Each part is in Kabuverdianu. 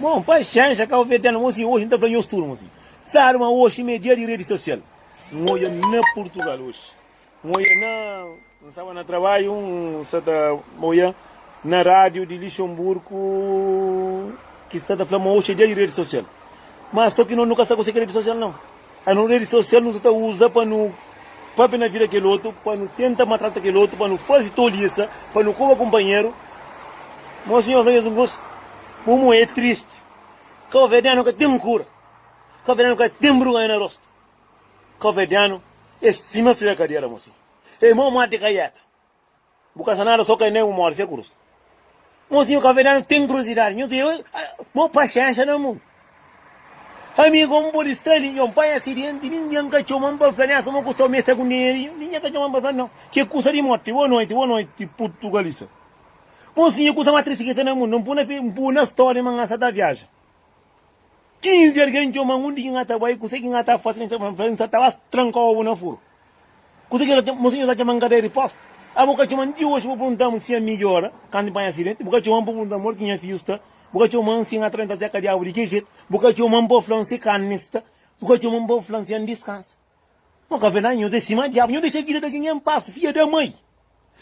Bon, paxénxa, ka obi tena. Mon si, oxi N ta fla nhos tudu, mon si. Sabe ma oxi ma é dia di redi sosial. N odja na Purtugal oxi. N odja na. N staba na trabadju, N sta ta odja na rádiu di Lixemburku ki sta ta fla ma oxi é dia di redi sosial. Má sô ki nos nu ka sta ku se ki redi sosial nau. A nu redi sosial nu sa ta uza pa nu pâpia na vida kel otu, pa nu tenta maltrata kel otu, pa nu faze tolisa, pa nu koba kunpanheru. Má un sinhor fla nhos un kuz, Bu mô é tristi. Kauverdianu ka ten kura. Kauverdianu ka ten bruganha na rostu. Kauverdianu é sima fri na kadera, mosi. É mau mate ka yeta. Bu ka sa nada so ka nen un morde se cruz Mozinho caverdiano tem curiosidade Nhos eu Mo paxénxa na mon Amigo mo pode sta li Nhos pai acidente Ninguém ka txoman pa fla Nessa mo kusta mesa com dinheirinho Ninguém ka txoman pa fla não Ke kusta di morte Boa noite Boa noite Portugalista Mozinho kusta ma três siketa na mon Npuna npuna story ma nhasa ta viaja Kinzi algen txoma-m undi ki N ta bai, kuzê ki N ta faze? N ta fla-m, N sa ta bas tranka obu na furu. Kuzê ki N ta txoma-m? Mon sinhor ta txoma-m kadéra di postu. Â bu ka txoma-m ti oxi pa pergunta-m si ami ki ora kantu N panha asidenti? Bu ka txoma-m pa pergunta-m modi ki nha fidju sta? Bu ka txoma-m si N atraventa séka di agu di ki jetu? Bu ka txoma-m pa fla-m si karni sta? Bu ka txoma-m pa fla-m si N diskansa? Nho ka vê na nho zê sima diabu nho dexa vida da genha en pas fia da mai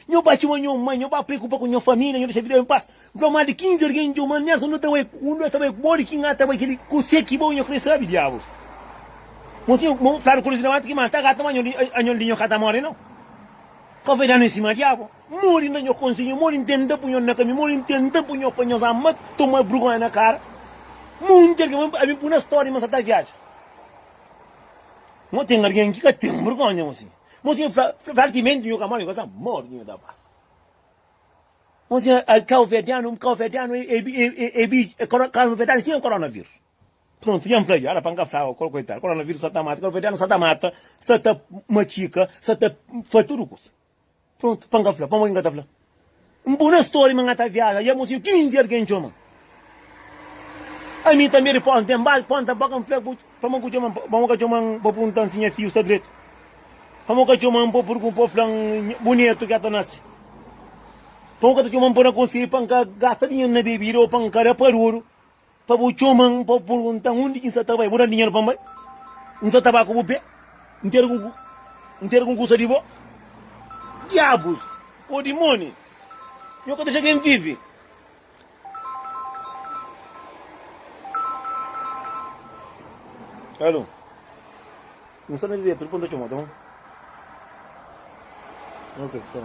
nho ba txoma nho mai nho ba preokupa ku nho família nho dexa vida en pas N fla má di 15 argen djo má Nelson nu ta bai ku nu ta bai ku bo di ki N ta bai kel li ku se ki bo nho krê sabe diabu Mon sinho mon fladu ku Luizinho Nevato ki mata gatu má anhon di anhon di nho ka ta móre nau ka vê na nho sima diabu N mori N da nho konsinhu mori N tenta pu nho na kami mori N tenta pu nho pa nhos ama toma brgonha na kara monti argen ma ami pu na stória ma sa ta viaja Mo ten algen ki ka ten bergonha mo si. Mo si fla, fla ki menti nhu ka modi, nhu ka sa modi ki nhu ta pasa. Mo si al kauverdianu, kauverdianu e, e, e, e, bi, e, kauverdianu sen koronavírus. Prontu, jan fla ju, ala pa nka fla ko, koitadu, koronavírus sa ta mata, kauverdianu sa ta mata, sa ta matika, sa ta fla tudu kusa. Prontu, pa N ka fla pamodi N ka ta fla. N pô na stória ma N ta viaja i amô siñu 15 algen txoma ami. Tanbê ripósa N ten bal, ponta bóka N fla-bu pamô ku txoma-m, pamô ka txoma-m pa punta-m si nha fiu sta dretu, pamô ka txoma-m pa purgun pa fla-m bu netu ka ta nase, pamô ka ta txoma-m pa na konselha pa N ka gasta dinheru na bebida ô pa N ka da paruru. Pa bu txoma-m, pa bu purgunta-m undi ki N sta ta bai. Bu da-m dinheru pa N bai, N sta ta ba ku bu pé, N tira ku N N tira ku N kusa di bo. Diabus! Ô dimóni! Nho ka ta dexa ken vive! Alô? N sta na diretu, dipô N ta txoma-u, ta bon? Ok, sa.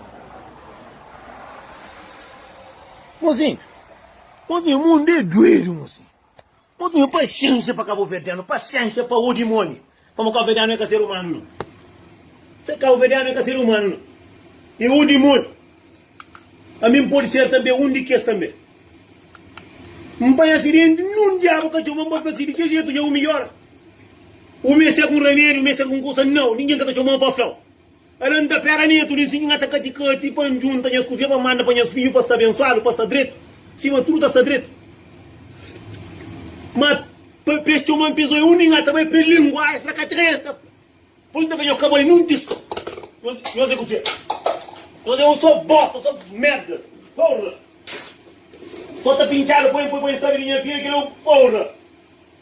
Mozinhu! Nós nha mundo é doedo nho sim Nós nha paciência pa caboverdiano paciência pa o dimoni Como caboverdiano é ka ser humano não Ser caboverdiano é ka ser humano não É o dimoni Pa mi n'podi ser tanbe um di kes tanbe N'panha acidente nun diabo ka txoma n'podi fasi di ke jeito dja o melhor O meste é com remedio meste é com coisa não Ninguém ka ta txomao pa flau El anda pera netu li siñu, ngata kati-kati pa N djunta nhas kuzia pa N manda pa nhas fidju pa sta abensuadu, pa sta dretu, sima tudu ta sta dretu. Ma pa pes txoma N pezó, é undi ngata bai pes lingua, es fla ka txeka, es ta fla. Pos N ta fla, nhos ka bai nun tist. Nhos é kuzia? Nhos é un só bosta, só merdas, porra. Só ta pintxada, poi-m poi pa N sabe di nha fidju, kel é un porra.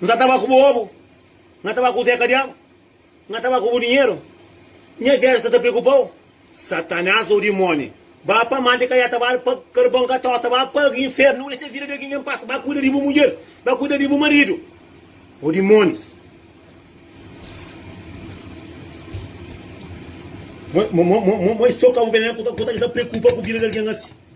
N sa ta ba ku bu obu, N ta ba ku zeka diabu, N ta ba ku bu dinheru, Nha vida sta ta preokupa-u. Satanás ô dimóni, ba pa mante ka ya ta bali, pa karbon ka ta ta ba pa infernu. Nu dexa vida di algen en pas, ba kuida di bu mudjer, ba kuida di bu maridu. Ô dimónis, N mo i so ka bu ben, N ka ta preokupa ku vida di algen asi.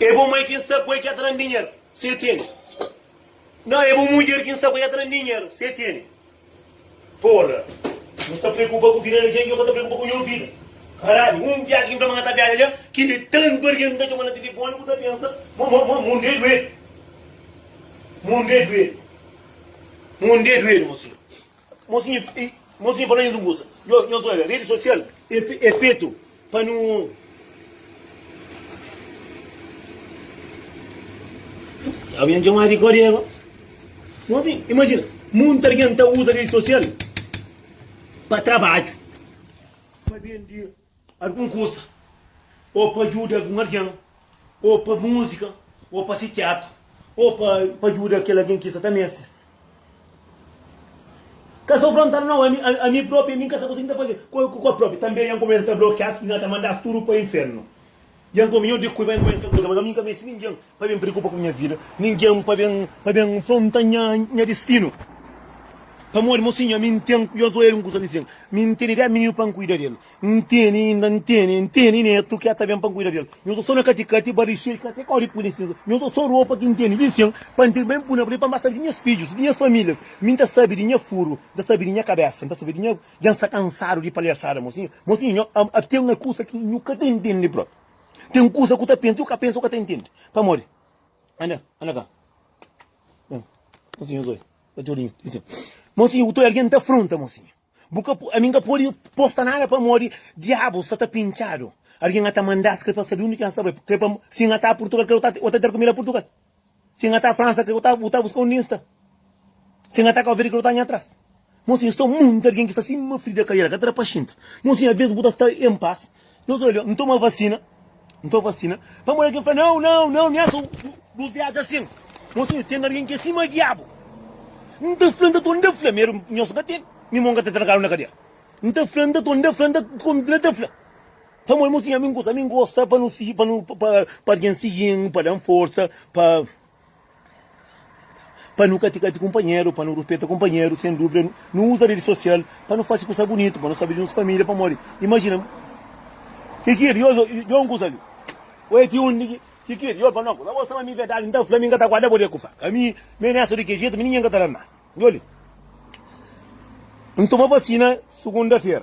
É bu mai ki N sta ku el ki ta tra-m dinheru, se tene. Nau, é bu mudjer ki N sta ku el ki ta tra-m dinheru, se tene. Porra! Nu sta preokupa ku vida di algen, dja ka ta preokupa ku nho vida. Karalhu, un viaji ki N fla ma N ka ta viaja dja, ki di tantu barga ki N ta txoma na tilifoni, bu ta pensa ma mon dja é duedu. Mon dja é duedu. Mon dja é duedu, mon senhor. Mosinha mosinha fala nhos un kusa, nhos oja redi sosial e fetu pa nu Aba nha txomadu di kóde aba Mosinha imajina munti algen ta uza redi sosial pa trabadju. algun kusa, ô pa djuda algun algen, ô pa múzika, ô pa sikiatra, ô pa pa djuda kel algen ki sa ta meste. Ka sa frontanu nau, ami ami propi ami ka sa konsigi ta faze kua kua propi, tanbe ami kumesa ta blokias, nhos ta mandas tudu pa infernu. I anton mi nhor di kui bai numa inter kuza, mas ami nka meste ningen pa ben preokupa ku nha vida, ningen pa ben pa ben nfronta nha nha destino. Pamodi mo sinha mi ntém ku Josué era un kuza risen, mi ntene dez mininu pa nkuida del, ntene inda ntene ntene netu ki ata ben pa nkuida del, nho sta so na katikati ba rixei ka te kori pui na sinza, nho sta so ropa ki ntene risen pa ntene ben pui na bri pa nba sabi di nhas fidjus, di nhas familias, mi nta sabi di nha furu, nta sabi di nha kabesa, nta sabi di nha. Dja N sta kansadu di palhasada mosinhu Mosinhu, nho ama-u Ten un kusa ki nhu ka ta ntende bro Ten un kusa ku ta pensa, u ka pensa u ka ta ntende Pamodi Anda, anda ka Bem, mosinhu Zoe Ba txeu di mi Dizi sin Mosinhu, bu ta oi algen ta fronta mosinhu Bu ka po, ami N ka pode posta nada pamodi Diabu sta ta pintxadu Algen a ta manda-s kre pa sabe undi ki N sta bai Kre pa, si N a ta Purtugal kre o ta, o ta ter ku mi la Purtugal? Si N ata Fransa krê bu ta buska undi N sta Si N ata ka Alvedi krê bu ta nha tras Mon sinha sta monti algen ki sta sima frida kaliera ka ta da pa xinta Mon sinha avês bu ta sta en pas Nhos odja N toma vasina N toma vasina Pamodi algen fla nãu nãu nãu nha son bu viaja asin Mon sinha ten algen ki é sima diabu N ta fla N ta tonda fla mi nhos ka ten mi mon ka ta trankadu na kadera N ta fla N ta tonda fla N ta kontinua ta fla. Pamodi nu tinha ami ngus, ami ngosta pa nu sigi, pa nu, pa, pa algen sigi-m, pa da-m forsa, pa, pa nu ka ti kati kunpanheru, pa nu ruspeta kunpanheru. Sen duvida, nu, nu uza redi sosial pa nu fasi kusa bunitu, pa nu sabe di nos familia. Pamodi, imajina, Ki ki el i oja i un kusa li? O e ti undi ki, ki ki el i oja pa no kusa? Bo staba ami? Verdadi, N ta fla, mi N ka ta guarda bo di e kusa. Ka mi, mi onesta di ki jetu, mi ningen ka ta da-m nada. Djoli, N toma vasina sugunda-fera.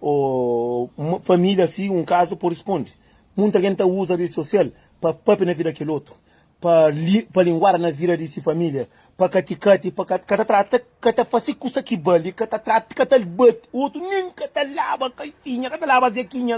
O ma família si un kazu pode skonde. Munta algen ta uza redi sosial pa pâpia na vida kel otu, pa li, pa linguada na vida di si família, pa kati-kati, pa ka ta trata, ka ta fase kusa ki bali, ka ta trata, ka ta bate otu, nen ka ta laba kaisinha, ka ta laba zekinha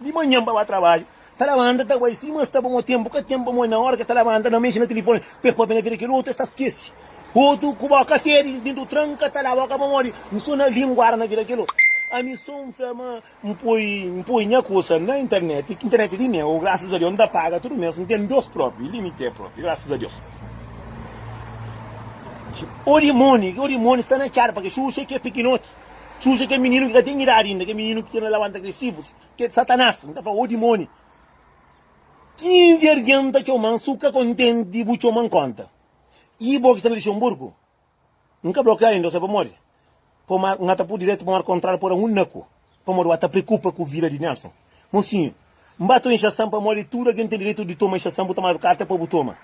di manhan pa ba trabadju. Ta labanta ta bai sima es ta ba mo tenpu ka ten pa mo na ora ke ta labanta na mexe na telefone pe pape na vida kel otu es ta skesi otu ku boka fedi dentu tranka ta la boka pamodi n so na linguada na vida kel otu ami so n fla ma n poi n poi nha kusa na internet internet di meu graças a Deus n ta paga tudu mes n ten dos propi li mi te propi graças a Deus odi moni odi moni sta na cara pake xuxa ke pikinoti xuxa ke mininu ke ka ten idadi inda ke mininu ke ta labanta ke sifru ki é Satanás, nu ta fla ô dimóni. Kinzi argen ta txoma-m si bu ka kontenti di bu txoma-m kónta? I bo ki sta na Lixenburgu, N ka blokia inda, ose pamodi po mar, N ata pur diretu pa mar kontráriu pora un naku, pamodi bu ata preokupa ku vida di Nelson. Mosinhu, N ba ta inxasan pamodi tudu argen ten diretu di toma inxasan, bu ta manda karta pa bu toma.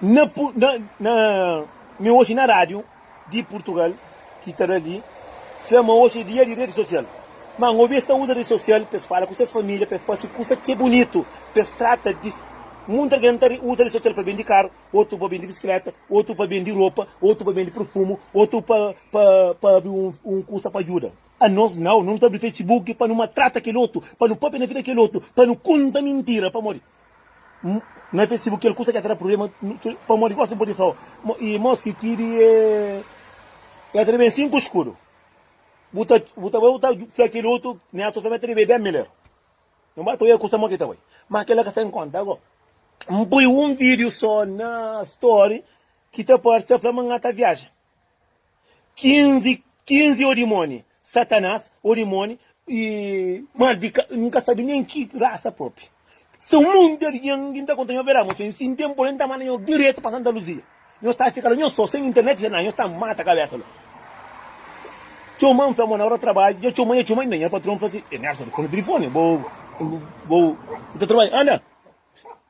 Na, na, na, mi oji na rádiu. di Purtugal ki ta da li fla ma oji é dia di redi sosial. Má N obi es ta uza redi sosial pa es fala ku ses família, pa es fase kusa ki é bunitu, pa es trata di. Munti algen ta uza redi sosial pa bende karu, otu pa bende bisikléta, otu pa bende ropa, otu pa bende perfumu, otu pa pa abri un kusa pa djuda. Anos nau, nu nu ta abri Facebook pa nu maltrata kel otu, pa nu pâpia na vida di kel otu, pa nu konta mintira. Pamodi? N fece bu kel kusa ki ta tra prubléma pamodi gosi N pode fla-u i mos ki ki di e ta tra ben sinku skudu bu ta bu ta bai bu ta fla kel otu mi atxa so mi ta debe dé mil eru N ba ta oia kusa mo ki ta bai ma kel la ka sta en kónta ago N poi un vídiu so na story ki ta parse ta fla ma N ta viaja. 15, 15 odimoni, Satanás, odimoni e mal di ka, n ka sabe nen ki rasa propi. São um monte de alguém que está contando meu verão, sem, sem tempo, nem tá mandando direto para Santa Luzia. Eu tá ficando, eu sou sem internet, já não, eu tá mata a cabeça lá. Tchau mãe, foi na hora trabalho, já tchau mãe, tchau mãe, nem patrão fazia, é nessa, com o telefone, vou, vou, vou, trabalho, anda.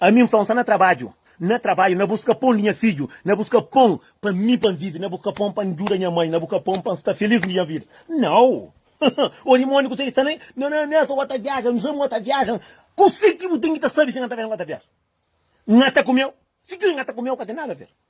Ami N fla, N sta na trabadju, na trabadju, na buska pon di nha fidju, na buska pon pa mi pa N vive, na buska pon pa N djuda nha mai, na buska pon pa N sta filís nha vida. Nau! Ô dimóniu, kuzê ki sta na. Nau, nau, nau, esa ua ta viaja, N sabe ua ta viaja. Kuzê ki bu ten ki ta sabe si N ka ta ben, ua ta viaja? N ata kumeu? Si ki ua ta kumeu, ka ten nada a ver.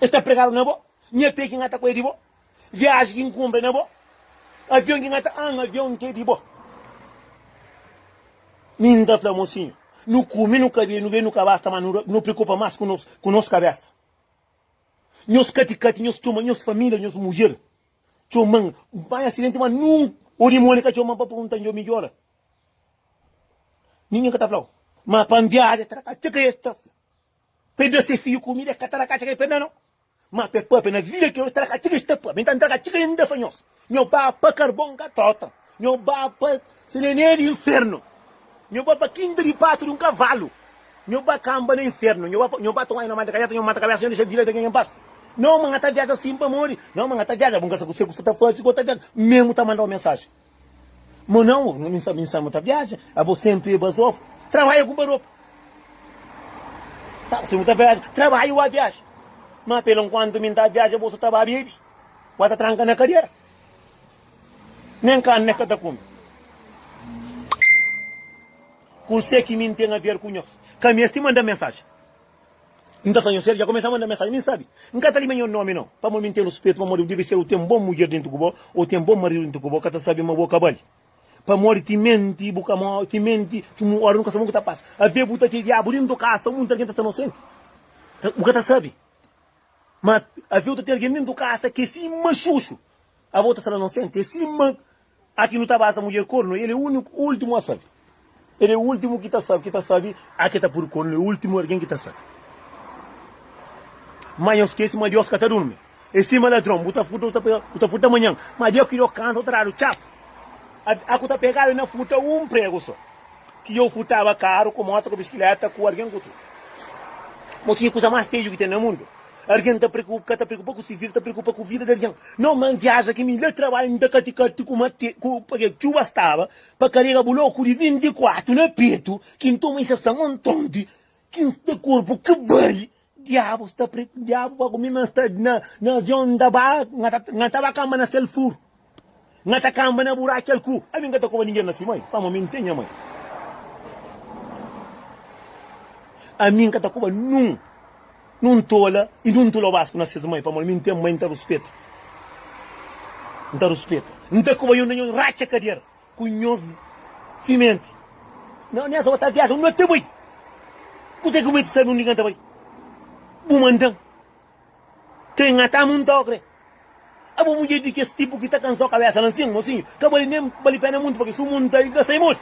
Es ta pregadu na bo. Nha pé ki N ata ku é di bo. Viaji ki N kunpra é na bo. Avion ki N ata anda, avion ki é di bo. Mi N ta fla, Mosinhu, nu kume, nu ka bebe, nu bebe, nu ka basta más, nu preokupa más ku nos kabésa. Nhos katikati, nhos txoma, nhos família, nhos mudjer txoma-m pa nha asidenti, má nunka un orimoni ka txoma-m pa pergunta dja N midjora. Ningen ka ta fla-u, má pa N viaja tra ka txeu ka es ta fla. Pa e da se fidju kumida, e ka ta da katxi ke pe da no. Ma pa e papia na vida ke, e tra katxi ke sta pa mi. Nta ntra katxi ke nda pa nhos. Nho ba pa karbon ka trota. Nho ba pa senené di infernu. Nho ba pa kinta di patu di un kavalu. Nho ba kanba na infernu. Nho ba pa, nho ba toma nho manta kajata, nho manta kabesa, nho dexa vida di algen en pas. No, ma nha ta viaja sin pamodi. No, ma nha ta viaja. Bu nka sa ku se ku sa ta fasi ku ta viaja. Memu ta manda un mensaji. Mo nau, nu sta bin samu ta viaja, abo senpri e bazof, trabaja ku baropa. Abo senpri ta viaja, trabaja i wa viaja. Ma pela nkuantu mi nta viaja bo so ta ba bebi, wa ta tranka na kadera. Nen karni e ka ta kumi. Kuse ki mi ntena ver ku nhos? Ka mesti manda mensaji. N ta fla nhos, el dja kumesa manda mensajen. Mi N sabe, N ka ta lima nho nomi nau, pamodi mi N ten ruspetu pa modi bu debe ser o ten bon mudjer dentu ku bo, o ten bon maridu dentu ku bo, ka ta sabe ma bo ka bali. Pamodi ti menti, bu ka mo, ti menti, ti mu ora nu ka sabe mon ku ta pasa. Ave bu ta ti diabu dentu kasa, un monti algen ta ta inosenti, ta, bu ka ta sabe. Ma ave u ta ti algen dentu kasa ki é sima xuxu, abo ta sala inosenti, é sima Aki nu ta ba sa mudjer kornu, el é úniku, últimu a sabe. El é últimu ki ta sabe, ki ta sabe, aki ta pode kornu, é últimu algen ki ta sabe. Má nhos skese ma Deus ka ta durmi, é sima ladron, bu ta furta, bu ta pega, bu ta furta manhan, má dia ki djo kansa bu ta dadu txapu. Â ku ta pegadu na furta un pregu sô, ki djo furtaba karu, ku mota, ku biskiléta, ku algen ku tudu. Bo tinha kuza más fedju ki ten na mundu. Argen ta preokupa, ka ta preokupa ku si vida, ta preokupa ku vida di argen. Nau man viaja ki mi le trabalha mi ta kati kati ku mate, ku pake txuba staba pa karega buloku di 24 na petu ki n toma inxasan ontonti ki n sta korpu ki bali diabu sta pre, diabu pa ku mi ma sta na na avion n ta ba, n ta ba kamba na sel furu. Nha ta kanba na bu Raquel ku. Ami nka ta koba ningen na si mai, pamo mi n'ten nha mai. Ami nka ta koba nun nun tola i nun tula basku na ses mai, pamo mi n'ten mai n'ta ruspeta. N'ta ruspeta. N'ta koba nhos na nhos ratxa kadiera ku nhos simenti. Na nes otal viaja, un no ta bai. Kuzê ku mi ta sabe undi nka ta bai? Bu mandan. Krê ngata-m un tokre. É bo mudjer di kes tipu ki ta kansa-u kabésa lan sin, mosinhu. Ka bali nen bali péna munti pa ki su mundu ta da sai modi.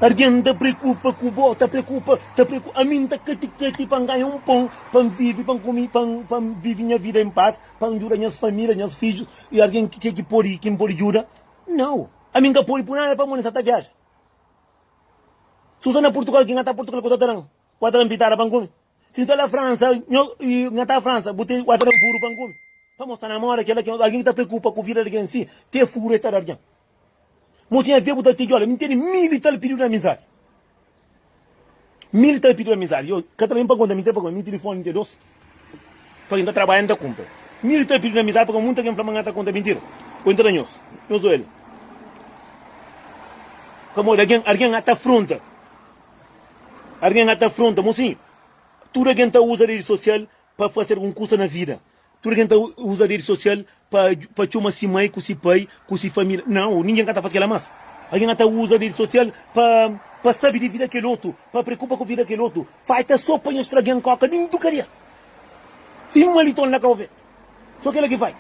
Argen ta preokupa ku bo, ta preokupa, ta preokupa. Ami N ta kati-kati pa N ganha un pon pa N vive, pa N kume, pa N pa N vive nha vida en pas, pa N djuda nhas família, nhas fidjus. I argen ki ki pode ki N pode djuda? Nau. Ami nka podi pui nada pamo nesa ta viaja su sa na portugal ki nga ta portugal ku ta taran wa taran pitada pa nkumi si nta la fransa nho i nga ta fransa bu ten wa taran furu pa nkumi pamo sta namora kela ki algin ki ta preokupa ku vida di algin si te furu e ta da algin mo si nha vê bu ta tijola mi tene mil i tal piridu na amizadi. Mi li ta pidiu amizadi. Yo ka ta ben pa konta, mi ta pagau. Mi tilifoni mi ta dos pa kin ta trabadja, mi ta kunpra. Mi li ta pidiu amizadi pabia munta kin fla ma N ta konta mintira o N ta da nhos. Nhos oja li. Pamodi algen, algen a ta afronta. Algen a ta afronta. Mosinhu, tudu algen ta uza redi sosial pa fase algun kusa na vida. Tudu algen ta uza redi sosial pa txoma si mai ku si pai ku si família. Nau, ningen ka ta faze kel-la más. Algen ka ta uza redi sosial pa sabe di vida kel otu, pa preokupa ku vida kel otu. Falta so pa nhos tra algen kóka di ndu kadia, si un maliton la ka ofe. So kel-la ki falta.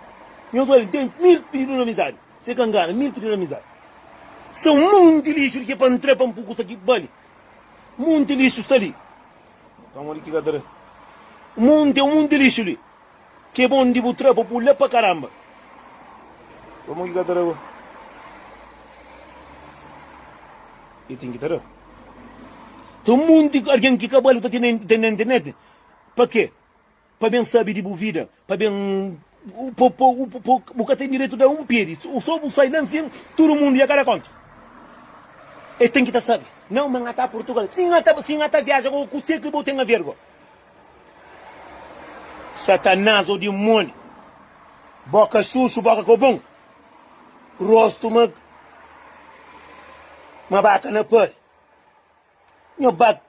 Nhos odja, N ten mil pididu di amizadi. Se ka ngana, mil pididu di amizadi. Sta un monti lixu li ki é pa N tra pa N pui kusa ki bali. Monti lixu sta li. Pamodi ki ka tra? Monti, é un monti lixu li. Ke bon di bu tra pa pul la pa karamba. Pamodi ki ka tra bo? E ten ki tra. Ten monti algen ki kabalu ta ten na internet. Pa ke? Pa ben sabi di bu vida, pa ben po po po bu ka ten direitu da un pedi, so bu sai nan sin tudu mundu ia kada konta. E ten ki ta sabi. Nau ma nha ta Portugal. Si nha ta si nha ta viaja ku kuse ki bu ten a vergo? Satanás o dimoni, boka xuxu, boka ko bon, rostu ma ma baka na pari. Nho ba.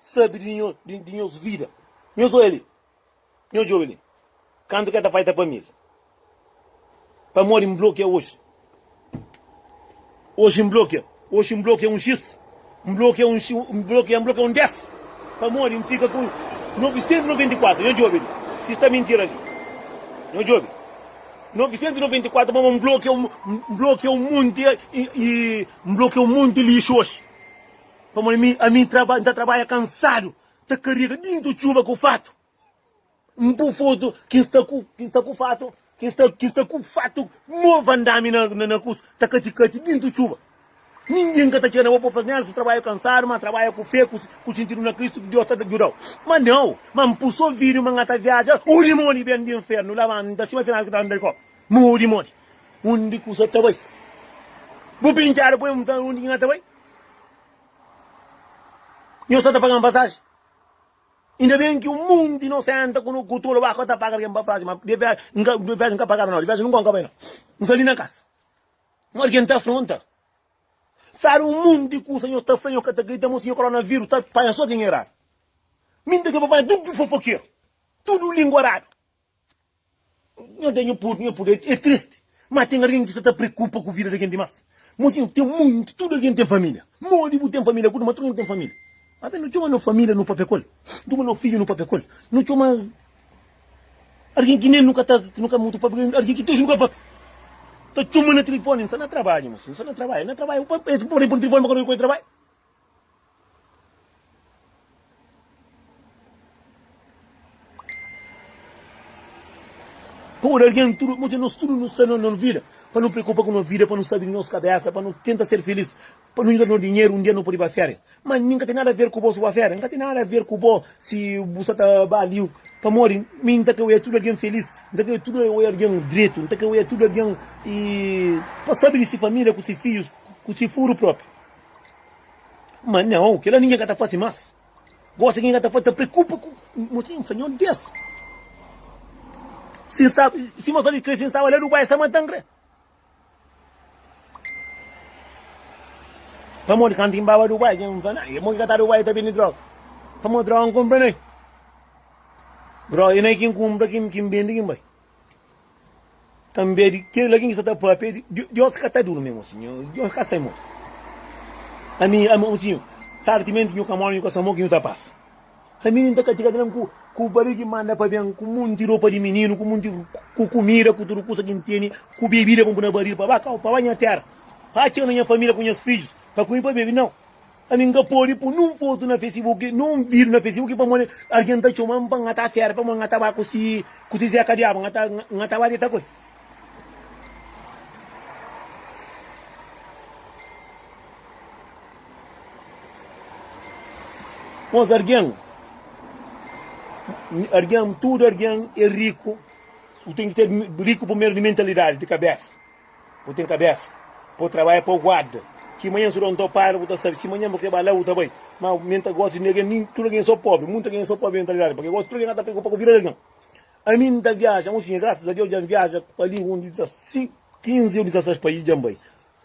sabe di nhos, di, di nhos vida. Nhos olha ali. Nhos djobe ali. Kantu ke ta faita pa mil. Pamodi N blokia oji. Oji N blokia. Oji N blokia un xis. N blokia un xis. N blokia, N blokia un des. Pamodi N fika ku 994. Nhos djobe ali. Si sta mintira ali. Nhos djobe. 994 pamodi N blokia, N blokia un monti, i, i N blokia un monti lixu oji. Pamodi mi, ami, N traba, N ta trabadja kansadu, ta karega dintu txuba ku fatu. N po fotu ki N sta ku, ki N sta ku fatu, ki N sta, ki N sta ku fatu novu andami na, na, na kusu, ta kati-kati dintu txuba. Ningin ka ta txiga na bo pa fla, Nelson, trabadja kansadu, ma trabadja ku fe, ku, ku xintidu na Kristu, ki Deus ta djudau. Ma nau, ma N pusu ovidu ma N ta viadja odi modi ben di infernu, labanta sima final ki ta anda di koba, ma odi modi. Undi ku sa ta bai? Bu pintxadu poi un ta, undi ki N ta bai? Nhos sta ta paga-m pasaji? Inda ben ki un monti nos senta ku no kutula, ba ka ta paga algen pa faxi, ma de vexi N ka, de vexi N ka pagaba nau, de vexi nunka N ka bai nau. N sta li na kasa. Má algen ta afronta. Sabe un monti di kusa nhos ta fla, nhos ka ta kridita, ma siñor koronavírus ta panha sô kenha iradu. Mi N ta pidi pa panha tudu fofokeru, tudu lingua radu. Nha da nha pudu, nha pudu é tristi, má ten algen ki sa ta preokupa ku vida di algen dimás. Mozinhu, ten monti, tudu algen ten família. Modi bu ten família kutu, má tudu algen ten família. Abi nu txoma no família nu pâpia ku el, nu txoma no fidju nu pâpia ku el, nu txoma algen ki nen nu ka ta, ki nu ka mutu pâpia, algen ki dexu nu ka pâpia. Ta txoma na tilifoni, N sta na trabadju, mosi, N sta na trabadju, na trabadju, pa es pode pô-m na tilifoni pa ka nu obi ku el trabadju. Pamodi algen, tudu, pamodi nos tudu nu sta na un vida pa nu preokupa ku nos vida, pa nu sabe di nos kabésa, pa nu tenta ser filís, pa nu djuda nos dinheru un dia nu pode ba férias. Má mi ka ten nada aver ku bo si bu ba férias, mi ka ten nada aver ku bo si bu sta ta ba li. Pamodi mi N ta krê oja tudu algen filís, N ta krê tudu oja algen dretu, N ta krê oja tudu algen pa sabe di se família ku se fidjus, ku se fudru própi. Ma nãu, kel-la ningen ka ta fase más. Gósi ki N ka ta fase ta preokupa ku motivu N fla, Nhô Deus, si N staba, si ma faze krê, si N staba la Dubai, N sta mata-m krê. Pamodi kantu ki N baba Dubai, ki N fla, Nãu, e mon ki ka ta Dubai ta bende dróga? Pamodi dróga N kunpra na el. Dróga é na el ki N kunpra, ki N bende, ki N bai. Tanbê di kel algen ki sta ta pâpia di Deus ka ta durmi, mon sinhor, Deus ka sai mon. Ami, ami, mon sinhor, sartimenti nhu ka móre, nhu ka sa mon ki nhu ta pasa. Ami N ta katiga algen ku ku barigi manda pa ben ku monti ropa di mininu, ku monti ku kumida, ku tudu kusa ki N tene, ku bebida pa N pui na baril pa ba kau, pa ba nha téra, pa atxa-u na nha família ku nhas fidjus, pa kume, pa bebe? Nau! Ami n ka pode po nun fotu na fesibuki, nun vidiu na fesibuki pamodi algen ta txoma-m pa nha ta fera, pamodi nha ta ba ku si ku si Zeka Diabu, nha ta nha ta ba deta ku el. Mos algen, algen, tudu algen e riku, u ten ki ta riku primeru di mentalidadi, di kabesa. Bu ten kabésa pa bu trabadja pa God. Ki manhan si bu da un topadu, bu ta sabe si manhan bu krê ba la, bu ta bai. Má, mi N ta gosi di algen, nin tudu algen sô póbri. Munti algen é sô póbri na realidadi, pamodi gosi tudu algen ka ta preokupa ku vida di algen. Ami N ta viaja un sidja, grasas a Deus dja N viaja pa li un di 16, 15 ô 16 país dja N bai.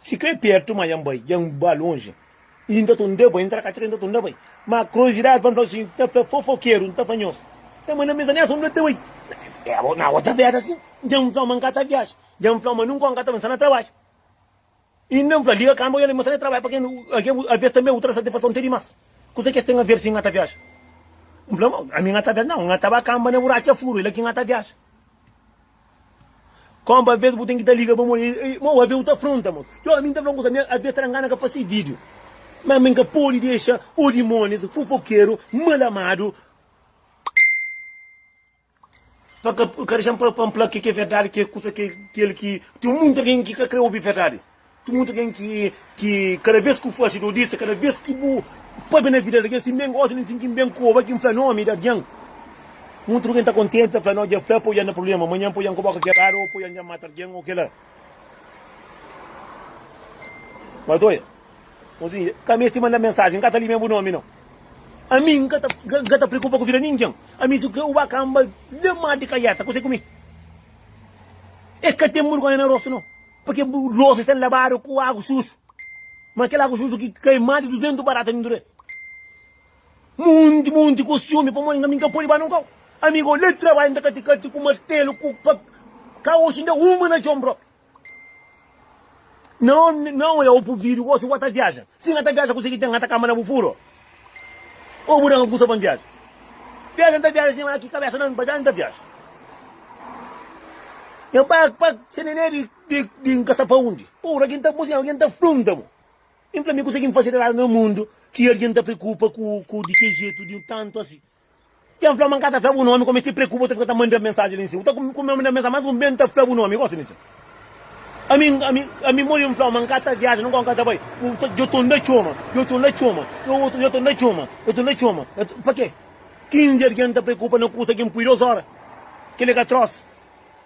Si krê pértu, má dja N bai, dja N ba lonji. I N ta tunda bai, N ta tra ka txeu, N ta tunda bai. Má kurozidadi pa N fla bu si N ta fla fofokeru, N ta fla nhos. Ka manda mesa nessa, N fla N ta bai. Abo, na abo ta viaja si? Dja N fla ma N ka ta viaja. Dja N fla-u ma nunka N ka ta ben sta na trabadju. Inda N fla, liga kanba oja la i mostra e trabadju pa ken algen ku alves tanbê otu ta da satisfason ti dimas. Kuse ki es ten aver si N ta viaja? N fla, Ma ami N ta viaja? Nau, N ta ba kanba na buratxa furu, é la ki N ta viaja. Kanba alves bu ten ki ta liga pa mon. Mau, alves bu ta fronta mon. Txeu, ami N ta fla-u un kuza, ami alves ta da ngana ka fase vídiu. Má ami N ka pode dexa odimonis, fofokeru, mal amadu. Pa ka, ka dexa-m pa, pa N fla ke ki é verdadi, ke kusa ke kel ki. Ten munti algen ki ka krê obi verdadi. Ten munti algen ki, ki kada vez ki bu fase dodisa, kada vez ki bu pâpia na vida di algen, si N ben gosi di N sinti-m ben ku oba ki N fla nomi di algen, munti di algen ta kontenti, ta fla, no, dja fla, poi dja na prubléma, manhan poi dja N ka boka keradu, o poi dja N dja mata algen, o kila. Bai ta oja. Osi, ka meste manda mensajen, n ka ta limia bu nomi nau. Ami, n ka ta preokupa ku vida ningen. Ami, si ku ba kanba lemadu di kajeta, kuse ku mi? E ka ten burgonha na rostu nau, purki bu losa e sta labadu ku agu suju, ma kel agu suju ki kai mas di duzentu barata di ndure. Monti, monti ku siumi, pamodi ami n ka pudi ba nunka. Ami, ku le trabadju, n ta kati-kati ku martelu, ku faka. Ka osi inda uma na txon propi. Não, não é o bu vídeo gosi wata viaja. Se nhata viaja kusi ki tem nhata kama na bu furo. Ou bu danga kusa pa viaja. Viaja nta viaja sem aqui cabeça não, pa viaja nta viaja. É pa pa se nenê de de de caçar pa onde. Ou alguém tá mozinho, alguém tá fronta mo. Vem para mim conseguir fazer lá no mundo que alguém tá preocupa com com de que jeito de um tanto assim. Ken fla ma n ka ta fla bu nomi kome ti preokupa u ta fika ta manda mensaji li nsin u ta kome manda mensaji mas un bem ta fla bu nomi gosi di se ami ami ami modi n flau ma n ka ta viaja nunka un ka ta bai u ta yo to nda txoma yo to nda txoma yo otu yo to nda txoma yo to nda txoma pake 15 algen ta preokupa na kusa ki n pui dos ora kile ka trosa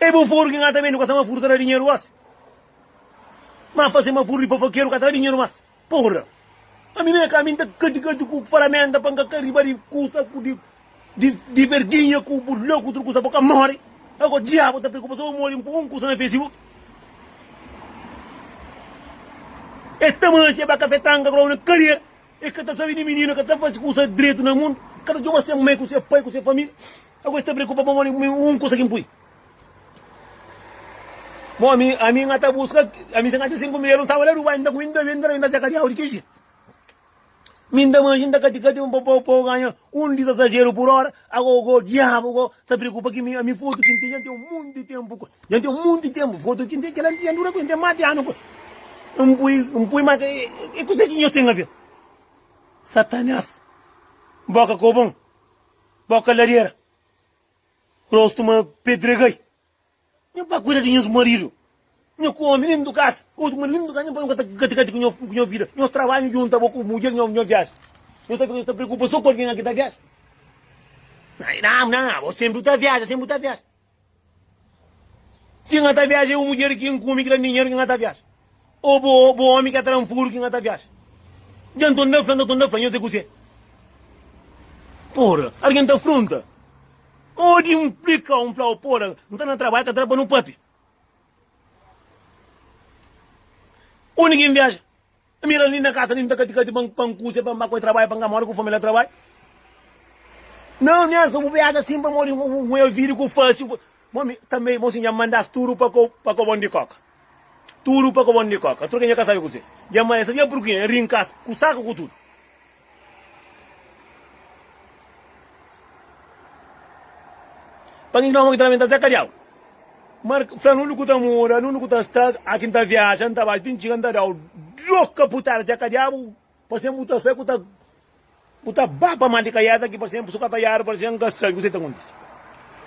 E bu furu ki nha ta bendi gosi ma furu ta da dinheru gosi ma fase ma furu di fofokeru ka ta da dinheru mas porra ami na nha ka mi nta kati kati ku faramenta pa nka ka riba di kusa ku di verginha ku bu loku utru kusa bo ka mori ago diabu ta preokupa so bo modi npo un kusa na facebook e ta manxa e ba kafe tanka kula u na kariera e ka ta sabi di minina ka ta fasi kusa dretu na mundu ka ta txoma se mai ku se pai ku se familia. Agu esta preocupa pamo li um kusa ki mpui bom ami ami nha ta busca ami se nha tem cinco mil tava la Dubai ku inda inda inda seca de audi kixi mi inda manji inda kati kati pa pa pa ganha um di sasageiro por hora ago go diabo go ta preocupa ki mi ami foto ki tem tem um monte de tempo ku tem tem um monte de tempo foto ki tem kila tem tem dura ku tem mas de ano ku mpui mpui mas e kusa ki nho tem a ver satanás boca ku bom Boka ladera, rostu ma pedra gai. Nho pa kuida di nhos maridu, nho ku omi lindu kasa, otu maridu lindu kasa, nho pa nho kata kati-kati ku nho ku nho vida. Nhos trabadju djunta bo ku mudjer nho, nho viaja. Nho ta fika, nho ta preokupa so ku algen la ki ta viaja. Nah, bo senpri ta viaja, senpri ta viaja. Si N ta viaja, é bu mudjer ki N kume, ki da-m dinheru ki N ta viaja? Ô bu ómi ki tra-m furu ki N ta viaja? Dja N ta da fla-m, ka ta da fla-m, nhos é kuzê? Pura, algen ta frunta. Modi N splika-u, N fla-u, pura, N sta na trabadju, ka tra pa nu pape. Undi ki N viaja? N mira-l nin na kasa, nin ta kati-kati pa N pa N kuze, pa N ba ku el trabadja, pa N ka mora ku família trabadja. Nau, N arsa bu biaga sin pamodi bu bu é ovidu ku fásil pa. Mo mi tanbe, mo si N dja manda-s tudu pa ko pa kobon di kóka. Tudu pa kobon di kóka. Tur ke N dja ka sabe kuzê. Dja manda-s, sa dja purkê? N rinka-s ku saku ku tudu. Pa ki ki Nau ki ta lamenta Zé Kadiau? Marka fla nunde ku ta mora, nunde ku ta sta, a kin ta viaja, n ta bai, tin ciga n ta dau duas kaputada Zé Kadiau, pa sen bu ta sai ku ta bu ta ba pa mal di kaiada ki pa sen bu su ka ta yara pa sen n ka sabi ku sa ki ta kontise.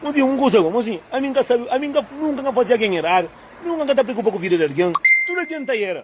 Un dia un kusa fla bo sin, ami n ka sabi, ami nunka n ka fazia algen eradu, nunka n ka ta preokupa ku vida di algen, tudu algen ta era.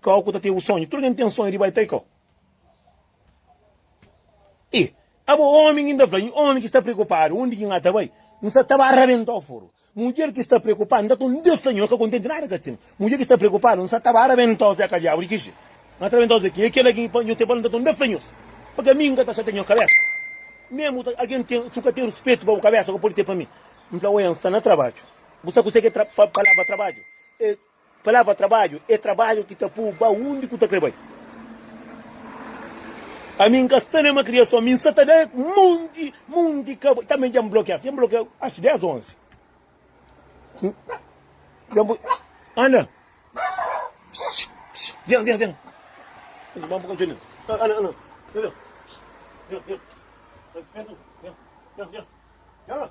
Kau ku ta ten bu sonhu? Tudu algen ten sonhu di bai pai kau? E abo omi ki N ta fla, N omi ki sta preokupadu undi ki N ta bai, N sa ta ba rabentau furu. Mudjer ki sta preokupadu, N ta toma Deus ta nho, N ka kontenti nada ka ten. Mudjer ki sta preokupadu, N sa ta ba rabentau zeka diabu. Di ki jetu? N ka ta rabentau zekinha. E kela ki pa nho ten pa el, N ta toma Deus ta nho-s. Pa ka mi, N ka ta xatia nho kabesa. Mesmu ta algen ten, si bu ka ten ruspetu pa bu kabesa, ka pode ten pa mi. N fla, Oia, N sta na trabadju. Bu sa kuse ki é palavra trabadju? E. Palavra trabadju é trabadju ki ta pô-u ba undi ki bu ta krê bai. Ami N ka sta na ma kriason, mi N sta ta da monti, monti kaba. Tanbê dja N blokia-s, dja N blokia achu 10 ô 11. Dja N poi, Ana, pss, vem, vem, vem. Ana, vamos para o cantinho. Ana, Ana, Ana, vem, vem. Vem, vem. Vem, vem, vem. Vem, vem. Vem.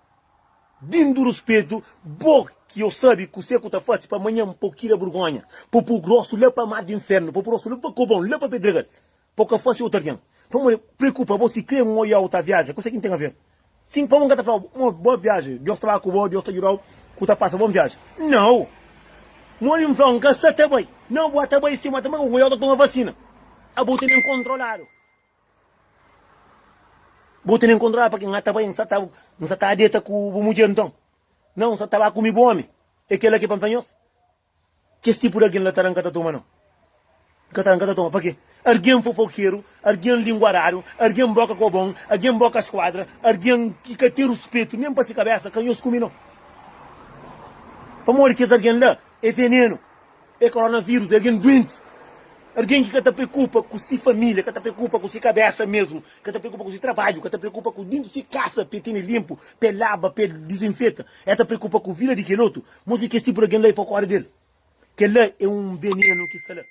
Dindo ruspetu bo ki o sabi kuse ku ta fasi pa manhan pa o kira burgonha pa po grosu la pa mar di infernu pa po grosu la pa kobon la pa pedregal pa o ka fasi otu algen pamo e preokupa bo si kre mo ya o ta viaja kuse ki n ten aver sin pamo n ka ta fla bo mo boa viaji dios ta ba ku bo dios ta judau ku ta pasa bon viaji nau mo bin flau n ka sa ta bai nau bo a ta bai si ma ta mba ku ku ya o ta toma vasina abo tene n kontroladu. Bo tene encontrá-la pa ki N ta bai, N sa ta, N sa ta deta ku bu mudjer nton? Nau, N sa ta ba kumi bu omi. É kel-la ki pa N fla nhos, Kes tipu di algen la tará N ka ta toma nau. N ka tará, N ka ta toma. Pakê? Algen fofokeru, algen linguadáriu, algen boka kobon, algen boka skuadra, algen ki ka ten ruspetu nen pa si kabésa, ka nhos kumi nau. Pamodi kes algen la é venenu. é koronavírus, é algen duenti. Algen ki ka ta preokupa ku se família, ka ta preokupa ku se kabésa mésmu, ka ta preokupa ku se trabadju, ka ta preokupa ku dintu se kasa pa el tene linpu, pa el laba, pa el dizinfeta. El ta preokupa ku vida di kel otu. Mos di kes tipu di algen la é pa kóre di el. Kel-la é un benenu ki sta la.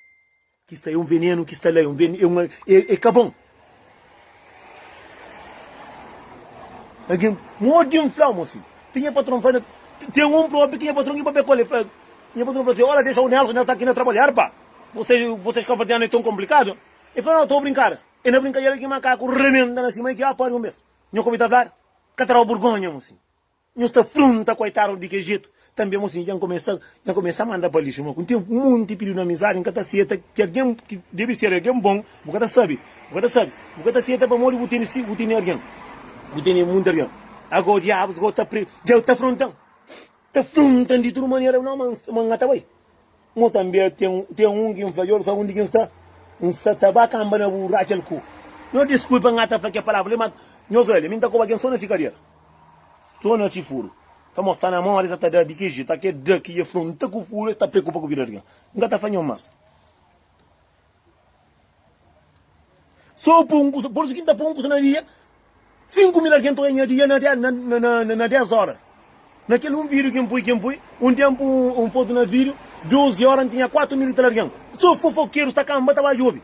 Ki sta é un venenu ki sta la é un venenu é un é ka bon. Algen modi un flau mo si ti nha patron fla ten un probi ki nha patron i papia ku el i fla nha patron fla si ola dexa o Nelson el sta ki na trabalhar pa bosas bosas kavardianu é ton konplikadu e fla no to brinkada e na brinkadera ki makaku rebenta na sima i ki a pari un bes nho kobi ta fla ka ta dau burgonha mo si. Nhos ta frunta koitadu di kel jetu. Tanbe mos dja N kumesa dja N kumesa manda pa lixu. Má ku ténpu, un monti pididu na amizadi N ka ta seta, ki algen ki debe ser algen bon bu ka ta sabe. Bu ka ta sabe. Bu ka ta seta pamodi bu tene si bu tene algen. Bu tene monti algen. Agora diabus, agora ta pre dja ta fronta-m. Ta fronta-m di tudu manera. Nau, ma N ka ta bai. Mo tanbe ten un ki N fla-l, Djobe, sabe undi ki N sta? N sa ta ba kanba na bu Rachel ku. Nho diskulpa N ata fla kel palavra li, ma nho fla li, mi N ta koba kel so na si kadera, so na si furu. Ka mo sta na mó di sa ta da di ki ji, ta ke da ki ji afronta ku furu, e sta preokupa ku vida di algen. N ka ta fla nho mas. Sô pô un kusa, pôrsu ki N ta pô un kusa na dia, sinku mil algen ta oja nha dia na dé, na, na, na, na, na dés óra. Na kel un vídiu ki N pui, ki N pui, un ténpu un, un fotu na vídiu, dozi óra, N tinha kuatu mil i tal algen. Sô fofokeru ta kanba ta ba djobe,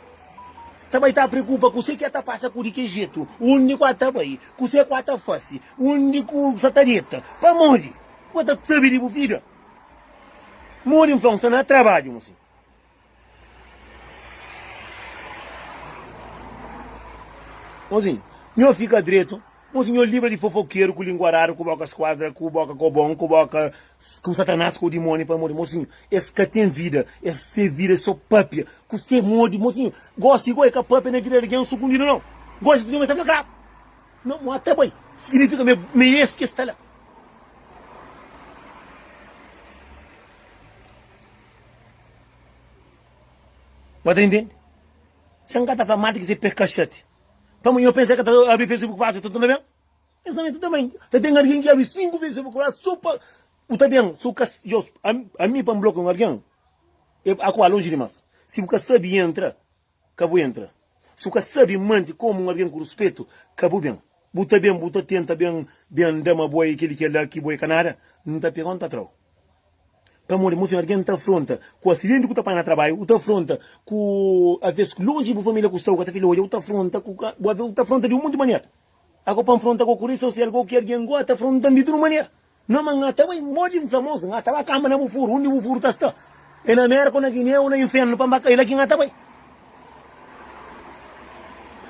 ta bai ta preokupa kusé ki el ta pasa, ku di ki jetu, undi ku el ta bai, kusé ku el ta fase, undi ku sa ta deta. Pamodi? Bo ta sabe di bu vida? Modi influensa na trabadju, mosinhu? Mozinho, nho fika dretu. Mozinho, nho libra di fofokeru, ku lingua rara, ku boka skuadra, ku boka kobon, ku boka ku Satanas, ku dimoni, pamodi mozinho es ka ten vida, es se vida é so papia, ku se modi mozinho gosi igual é ka papia na vida di algen sukundidu nau, gosi mozinho meste fla klaru nau mo ta bai signifika ma ma é es ki es ta la. Ba ta intende? Se N ka ta fla mati ki se pe ka xati, pamodi nhos pensa ki el ta abri Facebook fasil, el ta torna ben? Es mamente tanbê ta ten algen ki abri sinku Facebook la sô pa bu ta ben. Si bu ka sabe. Ami, pa N blokia un algen, el a ku ba lonji dimás. Si bu ka sabe, entra. Ka bu entra. Si bu ka sabi mante komu un algen ku ruspetu, ka bu ben. Bu ta ben, bu ta tenta ben, ben nda ma bo é kel i kel la, ki bo é ka nada, N ta pega-u, N ta tra-u. Pamodi mon sen algen N ta afronta ku asidenti ku ta apanha na trabaiu, u ta afronta ku aves ki lonji di bu familia ku sta u ka ta fila odja, u ta afronta ku ka bu aves u ta afronta di un monti manera. Ago pa N fronta ku okurisa, u ser algo ki algen gosta, afronta-m di tudu manera. No ma nha ta bai modi n fla mos nha ta ba kanba na bu furu undi bu furu ta sta e na mérka o na guiné o na inférnu pa n ba ka e la ki nha ta bai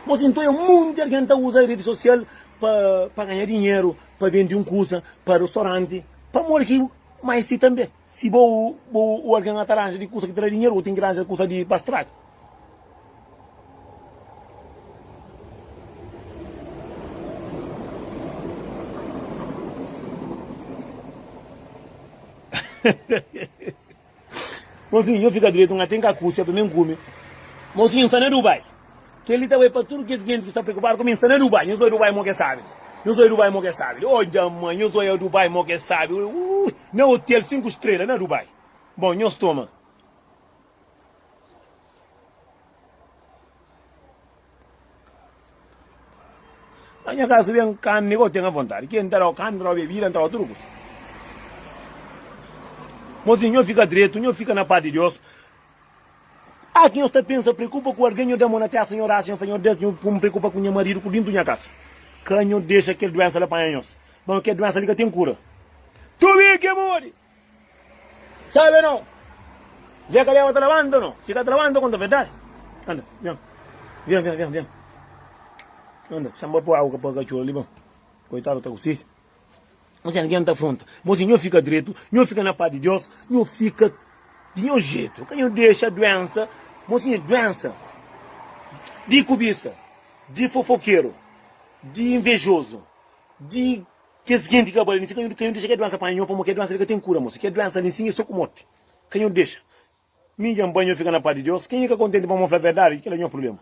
mos i nton e munti algen ta uza redi sosial pa pa ganha dinheru pa bendi un kusa pa rostoranti pamodi ki mai si tanbe. Si bo o algen la ta ranja di kusa ki ta da dinheru, bo ten ki ranja kusa di pa straga. Mosinhu, nho fika dretu, N ka ten kakusi, apa mi N kume. Mosinhu, N sta na Dubai. Kel-li ta bai pa tudu kes jintis ki sta preokupadu ku mi. N sta na Dubai. Nhos oi Dubai, mo ki é sábi li. Nhos oi Dubai, mo ki é sábi li. Oh, dja mân! Nhos oi Dubai, mo ki é sábi li. Ui! Na otel sinku strela, na Dubai. Bon, nhos toma. Na nha kaza ben karni ki N ten avontadi. Ki N ta da-u karni, N ta da-u bebida, N ta da-u tudu kusa. Mozinhu, nhos fika dretu, nhos fika na pas di Deus. Ah ki nhos ta pensa preokupa ku algen nho da mô na testa nho rasa nho fla nho des nho pum preokupa ku nha marido ku dintu nha kasa ka nho dexa kel duensa la panha nhos bon kel duensa li ka tem kura tubi ke modi sabe no ze kaleba ta labanta no si ka ta labanta konta verdade anda nha vem vem vem vem anda chama pa po agu ka pa kachor ali bon koitado ta ku sede. Osi algen ta fronta bo si, Nho fika dretu, nho fika na pas di Deus, nho fika di nho jetu, ka nho dexa duensa mo tinha duensa di kubisa, di fofokeru, di invejozu, di kes genti ka bali, ka nho dexa kel duensa panha nho, pamodi kel duensa li ka ten kura mosi, kel duensa li sin e so ku morti, ka nho dexa, Mi dja N panha yo fika na pas di Deus. Kenha ka kontenti pamó N fla verdadi? Kel la nha prubléma.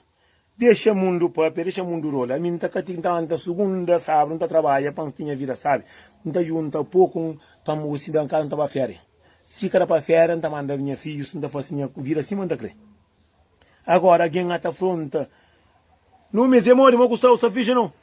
Dexa mundu pâpia, dexa mundu rola. Ami N ta kati, N ta anta sugundas a sábadu, N ta trabadja pa N tinha vida sábi. N ta djunta poku pa N gosi da kaza, N ta ba féria. Si ka da pa féria, N ta manda nha fidjus, N ta fase nha vida sima N ta krê. Agóra, algen a ta fronta, Nô, mê, es é modi, má ku Saul sta fidji nô.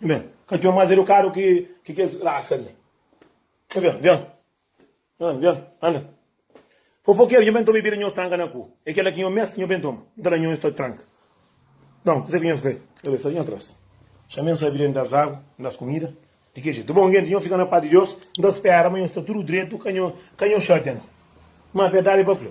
Bem, ka djon mas edukadu ki ki kes rasa li. Ka djon, djon. Djon, djon, anda. Fofokeru, nho ben toma e bira nhos tranka na ku. E kela ki nho meste nho ben toma. Nta la nhos ta tranka. Djon, kuzé ki nhos krê? Ka ben sta nha tras. Xa ben sabi djente das agu, das kumida. Di ki jetu? Bon, djente, nho fika na pas di Dios, nta spera ma nho sta tudu dretu, ka nho, ka nho xatia no. Ma verdadi pa fla.